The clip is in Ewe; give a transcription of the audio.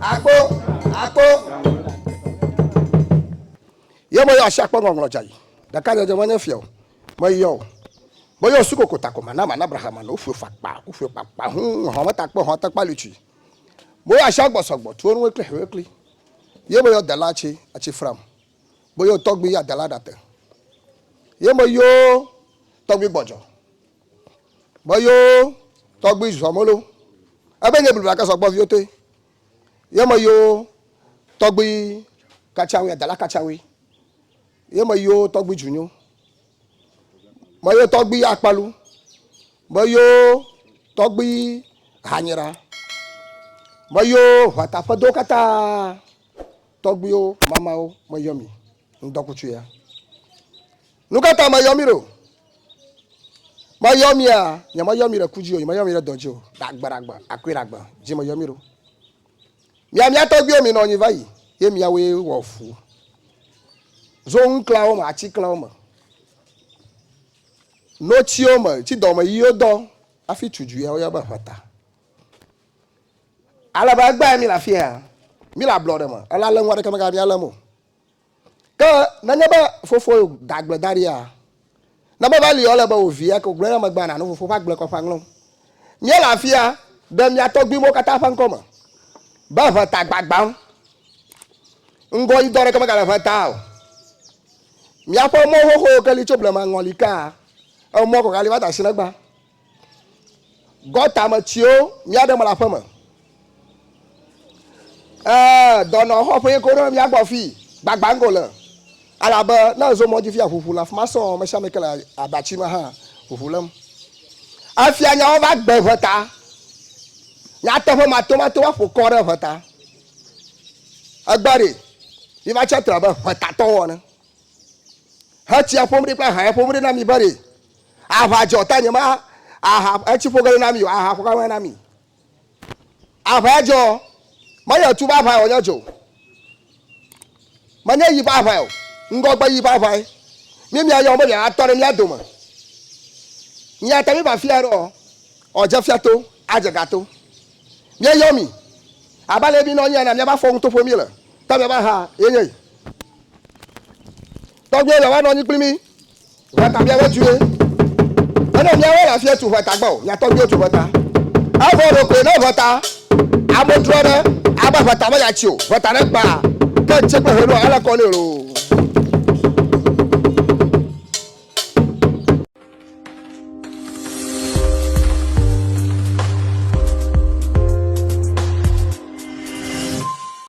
Akpɔ, akpɔ. Ye meyɔ asi akpɔ ŋɔŋlɔ dza yi. Ɖeka nye dze menye fia o. Meyɔ o. Meyɔ osu koko tako ma na ma na Abraham ma no ofue fakpa ofue kpakpa hu ehɔn me takpe ehɔn te kpali tui. Meyɔ asi agbɔ sɔgbɔ tuo nuwe kple hewe kli. Ye meyɔ dela atsi atsi fram. Meyɔ tɔgbi ya dela ɖate. Ye meyɔ tɔgbi gbɔdzɔ Meyɔ tɔgbui zɔ molo. Ebe nye blibla ke sɔgbɔ viwo toe. Ye meyɔ tɔgbui katsawi adala katsawi. Ye meyɔ tɔgbui dzunyo. Meyɔ tɔgbui akpalu. Meyɔ tɔgbui hanyira. Meyɔ ʋata ƒe do katã tɔgbuiwo mamawo meyɔ mi. Ŋdɔkutsuea. Nu ka ta meyɔ mi ɖo? Meyɔ mia, nyemeyɔ mi ɖe ku dzi o, nyemeyɔ mi ɖe dɔ dzi o, ɖe agbe ɖe agbe, akui ɖe agbe dzi meyɔ mi ɖo. Mia mia tɔgbiwo mi nɔ nyi va yi, ye miawoe wɔ ʋu. Zo nu klã wo me, atsi klã wo me. No tsi wo me, tsi dɔ me yi wo dɔ, afi tsu dzu ya wo yɔ be ʋeta. Ale be egbae mi le afi ya, mi le ablɔ ɖe me, ela le ŋua ɖeke me ga mia le mo. Ke nenye be fofowò da agble da ɖia, ne meva li o, ele be wò vi eke wògblɔe na megbea nànu fofowò ƒe agble kɔ ƒe aŋlɔm. Míele afia ɖe mía tɔgbuimewo katã ƒe ŋkɔ me be ʋe ta gbagbãm. Ŋgɔyidɔ aɖeke megale ʋe ta o. Míaƒe mɔ xoxowo ke li tso blema ŋɔli kaa, emɔ kɔkɔea li va ta sinegbea. Gɔta me tsiwo mía ɖe mele aƒe me. Ee, dɔnɔ xɔ ƒe ko ɖe mía gbɔ fi gbagba ŋgo le. Alabe ne ezo mɔ dzi fia ʋuʋu le afi ma sɔɔ, me sia me ke le abatsi me hã ʋuʋu lém. Efia nyawo va gbe ŋe ta. Nyateƒe matomato va ƒo kɔ ɖe ŋe ta. Egbe ɖi, mi va tsia tre abe ŋetatɔwo ene. Hetsia ƒom ɖi kple haya ƒom ɖi na mi be ɖi. Aʋa dzɔ tanye ma aha etsi ƒo gele na mi o aha ƒo gele na mi. Aʋa ya dzɔ me yɔ tu ba aʋa yɔ nye dzɔ. Me nye yi ba aʋa yɔ ŋgɔgbe yi ba aʋa ye. Mi mi ayɔ be mi atɔ ɖe mi adome. Mi ata mi ba fia ɖɔ ɔ dze fia to adze ga to. Mi yɔ mi aba le mi nɔ nyana mi aba fɔ ŋuto ƒo mi le ta mi aba ha ye nye yi. Tɔgbe yɔ mi aba nɔ nyi kpli mi Ʋɔta miawe tue. Ene miawe le afia tu ʋɔta gbɔ, miatɔ miwo tu ʋɔta. Evɔ ɖo koe ne ʋɔta ame trɔ ɖe, abe ʋɔta me yatsi o, ʋɔta ne gba, ke ŋtse kple heno ale kɔ ne loo.